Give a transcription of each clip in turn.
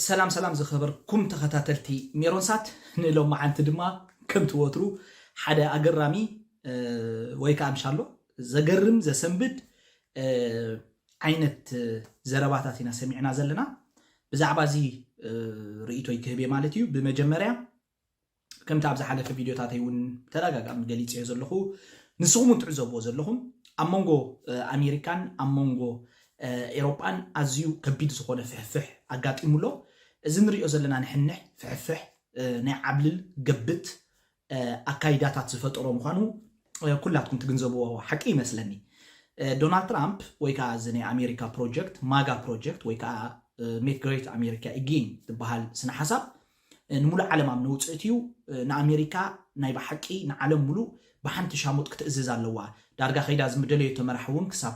ሰላም ሰላም ዝኸበርኩም ተኸታተልቲ ሜሮንሳት ንሎማዓንቲ ድማ ከምቲ ወትሩ ሓደ ኣገራሚ ወይ ከዓ እንሻሎ ዘገርም ዘሰንብድ ዓይነት ዘረባታት ኢና ሰሚዕና ዘለና ብዛዕባ እዚ ርእይቶይ ክህብ እየ ማለት እዩ ብመጀመርያ ከምቲ ኣብ ዝሓለፈ ቪድዮታተይ እውን ብተደጋጋሚ ገሊጸዮ ዘለኹ፣ ንስኹም እውን ትዕዘብዎ ዘለኹም፣ ኣብ መንጎ ኣሜሪካን ኣብ መንጎ ኤሮጳን ኣዝዩ ከቢድ ዝኾነ ፍሕፍሕ ኣጋጢሙ ኣሎ። እዚ ንርእዮ ዘለና ንሕንሕ ፍሕፍሕ ናይ ዓብልል ገብት ኣካይዳታት ዝፈጠሮ ምዃኑ ኩላትኩም ትግንዘብዎ ሓቂ ይመስለኒ። ዶናልድ ትራምፕ ወይ ከዓ እዚ ናይ ኣሜሪካ ፕሮጀክት ማጋ ፕሮጀክት ወይ ከዓ ሜክ ግሬት ኣሜሪካ ኢጌን ዝበሃል ስነ ሓሳብ ንሙሉእ ዓለም ኣብ ነውጽእት እዩ ንኣሜሪካ ናይ ብሓቂ ንዓለም ሙሉእ ብሓንቲ ሻሙጥ ክትእዝዝ ኣለዋ ዳርጋ ከይዳ ዝምደለዮቶ መራሒ ውን ክሳብ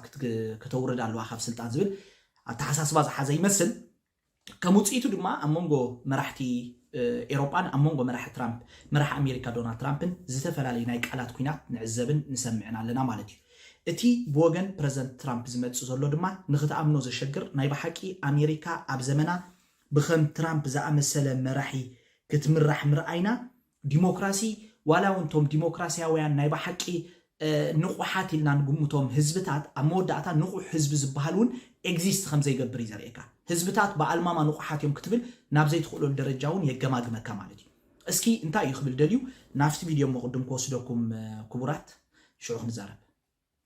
ክተውርድ ኣለዋ ካብ ስልጣን ዝብል ኣተሓሳስባ ዝሓዘ ይመስል ከም ውጽኢቱ ድማ ኣብ መንጎ መራሕቲ ኤሮጳን ኣብ መንጎ መራሒ ትራምፕ መራሒ ኣሜሪካ ዶናልድ ትራምፕን ዝተፈላለዩ ናይ ቃላት ኩናት ንዕዘብን ንሰምዕን ኣለና ማለት እዩ እቲ ብወገን ፕረዚደንት ትራምፕ ዝመጽእ ዘሎ ድማ ንክትኣምኖ ዘሸግር ናይ ብሓቂ ኣሜሪካ ኣብ ዘመና ብከም ትራምፕ ዝኣመሰለ መራሒ ክትምራሕ ምርኣይና ዲሞክራሲ ዋላ እውን እቶም ዲሞክራሲያውያን ናይ ብሓቂ ንቑሓት ኢልና ንግምቶም ህዝብታት ኣብ መወዳእታ ንቑሕ ህዝቢ ዝበሃል እውን ኤግዚስት ከም ዘይገብር እዩ ዘርእየካ። ህዝብታት ብኣልማማ ንቑሓት እዮም ክትብል ናብ ዘይትኽእለሉ ደረጃ እውን የገማግመካ ማለት እዩ። እስኪ እንታይ እዩ ክብል ደልዩ ናብቲ ቪድዮ እሞ ቅድም ክወስደኩም ክቡራት ሽዑ ክንዛረብ።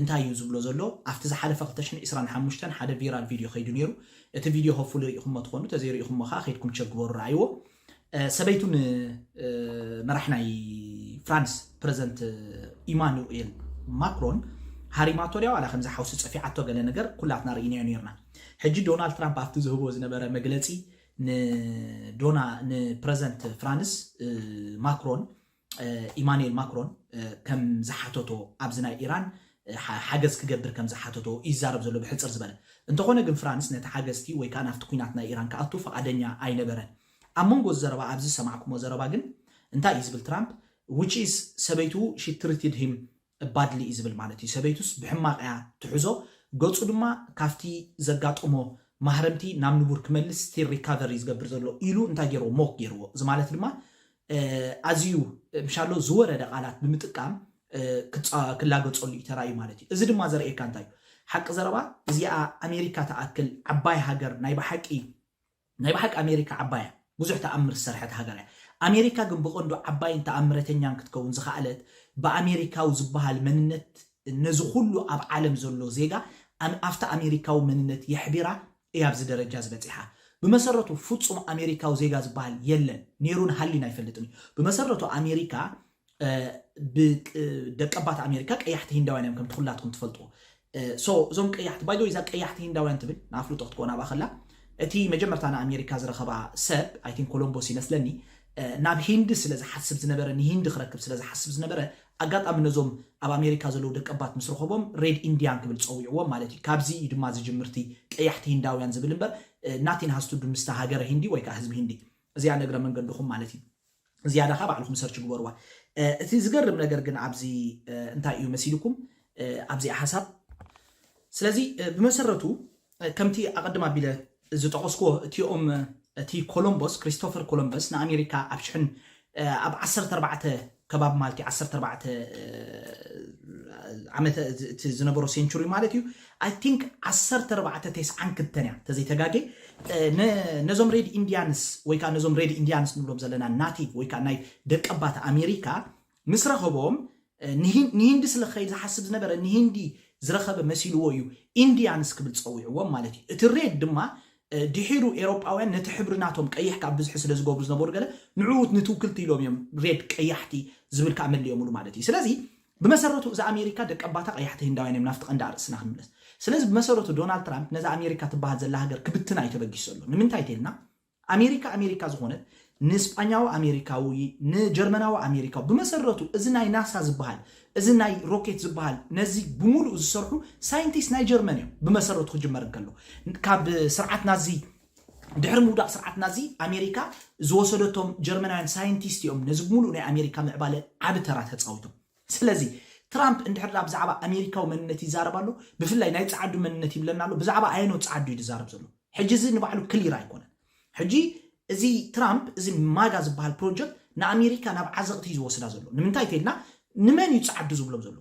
እንታይ እዩ ዝብሎ ዘሎ ኣብቲ ዝሓለፈ ክልተ ሽሕን ዕስራን ሓሙሽተን ሓደ ቪራል ቪድዮ ከይዱ ኔሩ እቲ ቪድዮ ሆፕፉሊ ሪኢኹሞ ትኾኑ ተዘይሪኢኹሞ ከኣ ከይድኩም ቸክ ግበሩ ረኣይዎ ሰበይቱ ን መራሕ ናይ ፍራንስ ፕረዘንት ኢማኑኤል ማክሮን ሃሪማቶ ድያ ዋላ ከምዚ ሓውሲ ጸፊዓቶ ገለ ነገር ኩላትና ርኢናዮ ኔርና ሕጂ ዶናልድ ትራምፕ ኣብቲ ዝህቦ ዝነበረ መግለጺ ንዶና ንፕረዘንት ፍራንስ ማክሮን ኢማኑኤል ማክሮን ከም ዝሓተቶ ኣብዚ ናይ ኢራን ሓገዝ ክገብር ከም ዝሓተቶ እዩ ዝዛረብ ዘሎ ብሕጽር ዝበለ። እንተኾነ ግን ፍራንስ ነቲ ሓገዝቲ ወይ ከኣ ናብቲ ኲናት ናይ ኢራን ክኣቱ ፍቓደኛ ኣይነበረን። ኣብ መንጎ እዚ ዘረባ ኣብዚ ዝሰማዕኩሞ ዘረባ ግን እንታይ እዩ ዝብል ትራምፕ፣ ዊች ኢዝ ሰበይቱ ሺ ትሪትድ ሂም እባድል እዩ ዝብል ማለት እዩ ሰበይቱስ ብሕማቅ እያ ትሕዞ ገጹ ድማ ካብቲ ዘጋጠሞ ማህረምቲ ናብ ንቡር ክመልስ ስቲል ሪካቨር እዩ ዝገብር ዘሎ ኢሉ እንታይ ጌርዎ ሞክ ጌርዎ እዚ ማለት ድማ ኣዝዩ ምሻሎ ዝወረደ ቃላት ብምጥቃም ክላገጸሉ እዩ ተራእዩ ማለት እዩ እዚ ድማ ዘርእየካ እንታይ እዩ ሓቂ ዘረባ እዚኣ ኣሜሪካ ትኣክል ዓባይ ሃገር ናይ ብሓቂ ናይ ብሓቂ ኣሜሪካ ዓባይ እያ ብዙሕ ተኣምር ዝሰርሐት ሃገር እያ ኣሜሪካ ግን ብቀንዱ ዓባይን ተኣምረተኛን ክትከውን ዝኸኣለት ብኣሜሪካዊ ዝበሃል መንነት ነዚ ኩሉ ኣብ ዓለም ዘሎ ዜጋ ኣብቲ ኣሜሪካዊ መንነት የሕቢራ እያ ኣብዚ ደረጃ እዚ በጺሓ ብመሰረቱ ፍጹም ኣሜሪካዊ ዜጋ ዝበሃል የለን ኔሩን ሃልዩን ኣይፈልጥን እዩ ብመሰረቱ ኣሜሪካ ደቀባት ኣሜሪካ ቀያሕቲ ሂንዳውያን እዮም ከምቲ ኩላትኩም ትፈልጥዎ ሶ እዞም ቀያሕቲ ባይዶ እዛ ቀያሕቲ ሂንዳውያን ትብል ንኣፍልጦ ክትኮን ኣብኣ ከላ እቲ መጀመርታ ንኣሜሪካ ዝረኸባ ሰብ ኣይቲን ኮሎምቦስ ይመስለኒ ናብ ሂንዲ ስለ ዝሓስብ ዝነበረ ንሂንዲ ክረክብ ስለ ዝሓስብ ዝነበረ ኣጋጣሚ ነዞም ኣብ ኣሜሪካ ዘለዉ ደቀባት ምስ ረኸቦም ሬድ ኢንዲያን ክብል ፀዊዕዎም ማለት እዩ ካብዚ እዩ ድማ ዝጅምርቲ ቀያሕቲ ሂንዳውያን ዝብል እምበር ናቲን ሃስቱዱ ምስቲ ሃገረ ሂንዲ ወይ ከዓ ህዝቢ ሂንዲ እዚኣ ነግረ መንገድኹም ማለት እዩ ዝያዳ ከኣ ባዕልኹም ሰርች ግበርዋ። እቲ ዝገርም ነገር ግን ኣብዚ እንታይ እዩ መሲልኩም ኣብዚኣ ሓሳብ ስለዚ ብመሰረቱ ከምቲ ኣቐድም ኣቢለ ዝጠቐስኩዎ እቲኦም እቲ ኮሎምቦስ ክሪስቶፈር ኮሎምበስ ንኣሜሪካ ኣብ ሽሕን ኣብ ዓሰርተ ኣርባዕተ ከባቢ ማለት እዩ ዓሰርተ ኣርባዕተ ዓመተ እቲ ዝነበሮ ሴንቹሪ ማለት እዩ ኣይ ቲንክ ዓሰርተ ኣርባዕተ ቴስዓን ክልተን እያ ተዘይ ተጋጌ ን ነዞም ሬድ ኢንድያንስ ወይ ከኣ ነዞም ሬድ ኢንድያንስ ንብሎም ዘለና ናቲቭ ወይ ከኣ ናይ ደቀባት ኣሜሪካ ምስ ረኸቦም ንሂን ንሂንዲ ስለ ክኸይድ ዝሓስብ ዝነበረ ንሂንዲ ዝረኸበ መሲልዎ እዩ ኢንድያንስ ክብል ጸዊዕዎም ማለት እዩ እቲ ሬድ ድማ ድሒሩ ኤሮጳውያን ነቲ ሕብሪ ናቶም ቀይሕ ከኣ ብዝሒ ስለ ዝገብሩ ዝነበሩ ገለ ንዕኡ ንትውክልቲ ኢሎም እዮም ሬድ ቀያሕቲ ዝብል ከኣ መሊኦምሉ ማለት እዩ ስለዚ ብመሰረቱ እዛ ኣሜሪካ ደቀባታ ቀያሕቲ ህንዳውያን እዮም ናፍቲ ቀንዲ ኣርእስትና ክንምለስ ስለዚ ብመሰረቱ ዶናልድ ትራምፕ ነዛ ኣሜሪካ ትበሃል ዘላ ሃገር ክብትና እዩ ተበጊሱ ዘሎ ንምንታይ ተልና ኣሜሪካ ኣሜሪካ ዝኾነት ንስጳኛዊ ኣሜሪካዊ ንጀርመናዊ ኣሜሪካዊ ብመሰረቱ እዚ ናይ ናሳ ዝበሃል እዚ ናይ ሮኬት ዝበሃል ነዚ ብምሉእ ዝሰርሑ ሳይንቲስት ናይ ጀርመን እዮም ብመሰረቱ ክጅመር እንከሎ ካብ ስርዓት ናዚ ድሕሪ ምውዳቕ ስርዓት ናዚ፣ ኣሜሪካ ዝወሰደቶም ጀርመናውያን ሳይንቲስት እዮም ነዚ ብምሉእ ናይ ኣሜሪካ ምዕባለ ዓቢ ተራ ተጻዊቶም። ስለዚ ትራምፕ እንድሕር ድኣ ብዛዕባ ኣሜሪካዊ መንነት ይዛረብ ኣሎ፣ ብፍላይ ናይ ጸዓዱ መንነት ይብለና ኣሎ፣ ብዛዕባ ኣየኖት ጸዓዱ እዩ ዝዛረብ ዘሎ? ሕጂ እዚ ንባዕሉ ክሊር ኣይኮነን። ሕጂ እዚ ትራምፕ እዚ ማጋ ዝበሃል ፕሮጀክት ንኣሜሪካ ናብ ዓዘቕቲ እዩ ዝወስዳ ዘሎ። ንምንታይ እንተኢልና ንመን እዩ ጸዓዱ ዝብሎም ዘሎ?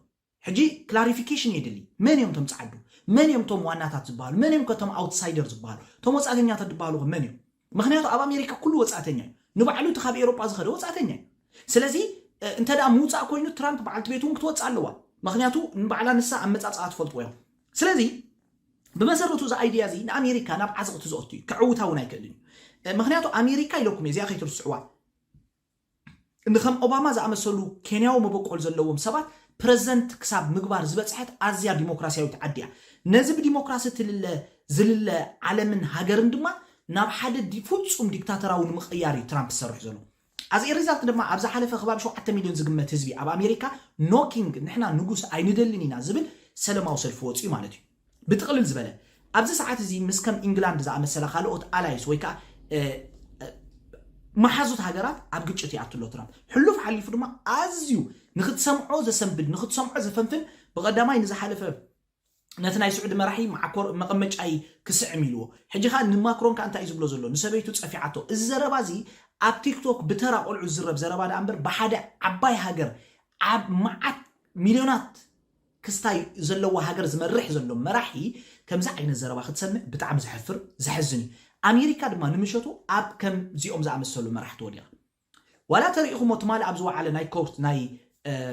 ሕጂ ክላሪፊኬሽን የድሊ መን እዮም እቶም ጸዓዱ መን እዮም እቶም ዋናታት ዝብሃሉ መን እዮም ከ እቶም ኣውትሳይደር ዝብሃሉ እቶም ወጻእተኛታት ዝብሃሉ ከ መን እዮም ምኽንያቱ ኣብ ኣሜሪካ ኩሉ ወጻእተኛ እዩ ንባዕሉ እቲ ካብ ኤሮጳ ዝኸደ ወጻእተኛ እዩ ስለዚ እንተ ደኣ ምውጻእ ኮይኑ ትራምፕ በዓልቲ ቤቱ እውን ክትወጽእ ኣለዋ ምኽንያቱ ንባዕላ ንሳ ኣመጻጽኣ ትፈልጥዎ እዮም ስለዚ ብመሰረቱ እዚ ኣይድያ እዚ ንኣሜሪካ ናብ ዓዘቕቲ ዘኦቱ እዩ ከዕውታ እውን ኣይክእልን እዩ ምኽንያቱ ኣሜሪካ ኢለኩም እየ እዚኣ ከይትርስዕዋ ንከም ኦባማ ዝኣመሰሉ ኬንያዊ መበቆል ዘለዎም ሰባት ፕረዚደንት ክሳብ ምግባር ዝበጽሐት ኣዝያ ዲሞክራስያዊት ዓዲ እያ። ነዚ ብዲሞክራሲ እትልለ ዝልለ ዓለምን ሃገርን ድማ ናብ ሓደ ፍጹም ዲክታተራዊ ንምቕያር እዩ ትራምፕ ዝሰርሕ ዘሎ። As a result ድማ ኣብ ዝሓለፈ ከባቢ ሸውዓተ ሚልዮን ዝግመት ህዝቢ ኣብ ኣሜሪካ No King፣ ንሕና ንጉስ ኣይንደልን ኢና፣ ዝብል ሰለማዊ ሰልፊ ወጺኡ ማለት እዩ። ብጥቕልል ዝበለ፣ ኣብዚ ሰዓት እዚ ምስ ከም ኢንግላንድ ዝኣመሰላ ካልኦት ኣላይስ ወይ ከኣ መሓዙት ሃገራት ኣብ ግጭት ይኣቱ ኣሎ ትራምፕ። ሕሉፍ ሓሊፉ ድማ ኣዝዩ ንክትሰምዖ ዘሰንብድ፣ ንክትሰምዖ ዘፈንፍን ብቐዳማይ ንዝሓለፈ ነቲ ናይ ስዑዲ መራሒ ማዕኮር መቐመጫይ ክስዕም ኢልዎ ሕጂ ከኣ ንማክሮን ከኣ እንታይ እዩ ዝብሎ ዘሎ ንሰበይቱ ጸፊዓቶ እዚ ዘረባ እዚ ኣብ ቲክቶክ ብተራ ቆልዑ ዝዝረብ ዘረባ ደኣ እምበር ብሓደ ዓባይ ሃገር ኣብ መዓት ሚልዮናት ክስታይ ዘለዋ ሃገር ዝመርሕ ዘሎ መራሒ ከምዚ ዓይነት ዘረባ ክትሰምዕ ብጣዕሚ ዘሕፍር ዘሕዝን እዩ ኣሜሪካ ድማ ንምሸቱ ኣብ ከም ዚኦም ዝኣመሰሉ መራሕቲ ወዲቓ ዋላ ተሪኢኹሞ ትማሊ ኣብ ዝወዓለ ናይ ኮርት ናይ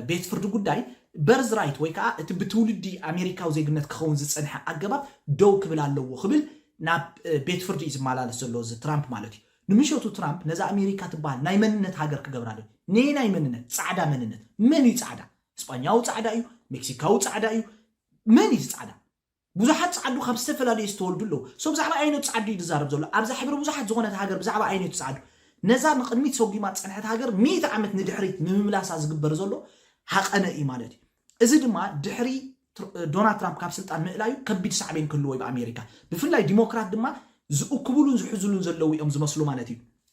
ቤት ፍርዲ ጉዳይ በርዝ ራይት ወይ ከዓ እቲ ብትውልዲ ኣሜሪካዊ ዜግነት ክኸውን ዝፀንሐ ኣገባብ ደው ክብል ኣለዎ ክብል ናብ ቤት ፍርዲ እዩ ዝመላለስ ዘሎ እዚ ትራምፕ ማለት እዩ ንምሸቱ ትራምፕ ነዛ ኣሜሪካ ትበሃል ናይ መንነት ሃገር ክገብራ ዶ ነየናይ መንነት ፃዕዳ መንነት መን እዩ ፃዕዳ እስጳኛዊ ጻዕዳ እዩ፣ ሜክሲካዊ ጻዕዳ እዩ፣ መን እዩ እዚ ጻዕዳ? ብዙሓት ጻዓዱ ካብ ዝተፈላለየ ዝተወልዱ ኣለዉ። ሶ ብዛዕባ ኣየነቱ ጻዓዱ እዩ ዝዛረብ ዘሎ? ኣብዛ ሕብሪ ብዙሓት ዝኾነት ሃገር ብዛዕባ ኣየነቱ ጻዓዱ? ነዛ ንቕድሚት ሰጒማ ዝጸንሐት ሃገር ሚእቲ ዓመት ንድሕሪት ንምምላሳ ዝግበር ዘሎ ሃቐነ እዩ ማለት እዩ። እዚ ድማ ድሕሪ ዶናልድ ትራምፕ ካብ ስልጣን ምእላዩ ከቢድ ሳዕቤን ክህልዎ እዩ ብኣሜሪካ። ብፍላይ ዲሞክራት ድማ ዝእክብሉን ዝሕዝሉን ዘለዉ እዮም ዝመስሉ ማለት እዩ።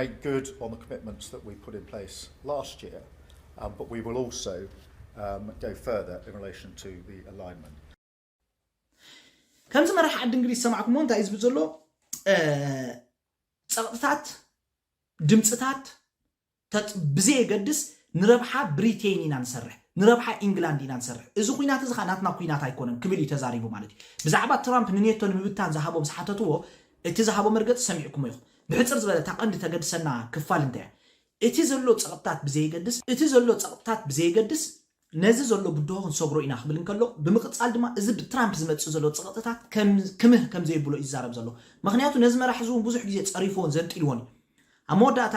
make good on the commitments that we put in place last year, but we will also go further in relation to the alignment. ከምዚ መራሒ ዓዲ እንግሊዝ ሰማዕኩሞ እንታይ እዩ ዝብል ዘሎ ፀቕጥታት ድምፅታት ብዘየገድስ ንረብሓ ብሪቴን ኢና ንሰርሕ ንረብሓ ኢንግላንድ ኢና ንሰርሕ እዚ ኩናት እዚ ከዓ ናትና ኩናት ኣይኮነን ክብል እዩ ተዛሪቡ ማለት እዩ ብዛዕባ ትራምፕ ንኔቶ ንምብታን ዝሃቦም ዝሓተትዎ እቲ ዝሃቦ መርገፂ ሰሚዕኩሞ ኢኹም ብሕጽር ዝበለ እታ ቀንዲ ተገድሰና ክፋል እንታይ እያ? እቲ ዘሎ ጸቕጥታት ብዘየገድስ እቲ ዘሎ ጸቕጥታት ብዘየገድስ ነዚ ዘሎ ብድሆ ክንሰግሮ ኢና ክብል እንከሎ ብምቕጻል ድማ እዚ ብትራምፕ ዝመጽእ ዘሎ ጸቕጥታት ክምህ ከምዘየብሎ እዩ ዝዛረብ ዘሎ። ምኽንያቱ ነዚ መራሒ እዚ እውን ብዙሕ ግዜ ጸሪፍዎን ዘንጢልዎን እዩ። ኣብ መወዳእታ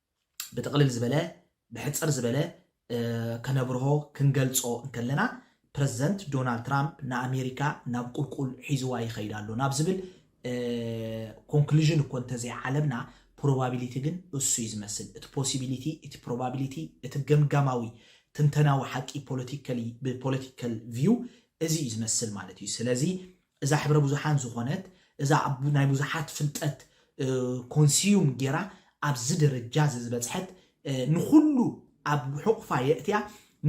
ብጥቕልል ዝበለ ብሕጽር ዝበለ ከነብርሆ ክንገልጾ እንከለና ፕረዚደንት ዶናልድ ትራምፕ ንኣሜሪካ ናብ ቁልቁል ሒዝዋ ይኸይድ ኣሎ ናብ ዝብል ኮንክሉዥን እኮ እንተዘይዓለብና ፕሮባቢሊቲ ግን እሱ እዩ ዝመስል እቲ ፖሲቢሊቲ እቲ ፕሮባቢሊቲ እቲ ገምጋማዊ ትንተናዊ ሓቂ ፖለቲካሊ ብፖለቲካል ቪው እዚ እዩ ዝመስል ማለት እዩ ስለዚ እዛ ሕብረ ብዙሓን ዝኾነት እዛ ኣብ ናይ ብዙሓት ፍልጠት ኮንስዩም ጌራ ኣብዚ ደረጃ እዚ ዝበጽሐት ንኹሉ ኣብ ሕቑፋ የእትያ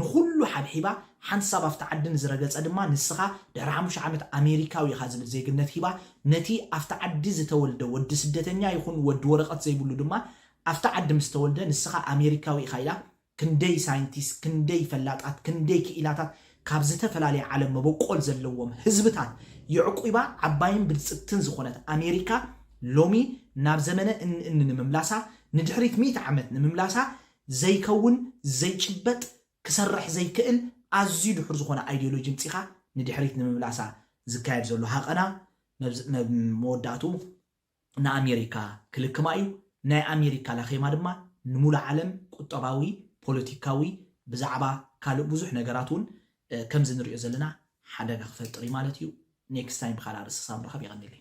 ንኹሉ ሓብሒባ ሓንሳብ ኣብቲ ዓዲ ንዝረገጸ ድማ ንስኻ ድሕሪ ሓሙሽተ ዓመት ኣሜሪካዊ ኢኻ ዝብል ዜግነት ሂባ ነቲ ኣብቲ ዓዲ ዝተወልደ ወዲ ስደተኛ ይኹን ወዲ ወረቐት ዘይብሉ ድማ ኣብቲ ዓዲ ምስ ተወልደ ንስኻ ኣሜሪካዊ ኢኻ ኢላ ክንደይ ሳይንቲስት ክንደይ ፈላጣት ክንደይ ክኢላታት ካብ ዝተፈላለየ ዓለም መበቆል ዘለዎም ህዝብታት የዕቊባ ዓባይን ብልጽግትን ዝኾነት ኣሜሪካ ሎሚ ናብ ዘመነ እኒ እኒ ንምምላሳ ንድሕሪት ሚእቲ ዓመት ንምምላሳ ዘይከውን ዘይጭበጥ ክሰርሕ ዘይክእል ኣዝዩ ድሑር ዝኾነ ኣይዲዮሎጂ ምጺኻ ንድሕሪት ንምምላሳ ዝካየድ ዘሎ ሃቐና መብ መብ መወዳእትኡ ንኣሜሪካ ክልክማ እዩ፣ ናይ ኣሜሪካ ላኼማ ድማ ንሙሉእ ዓለም ቁጠባዊ፣ ፖለቲካዊ ብዛዕባ ካልእ ብዙሕ ነገራት ውን ከምዚ ንሪኦ ዘለና ሓደጋ ክፈጥር እዩ ማለት እዩ። ኔክስታይም ብካልኣ ርእሲ ክሳብ ንራኸብ የቐኔለይ።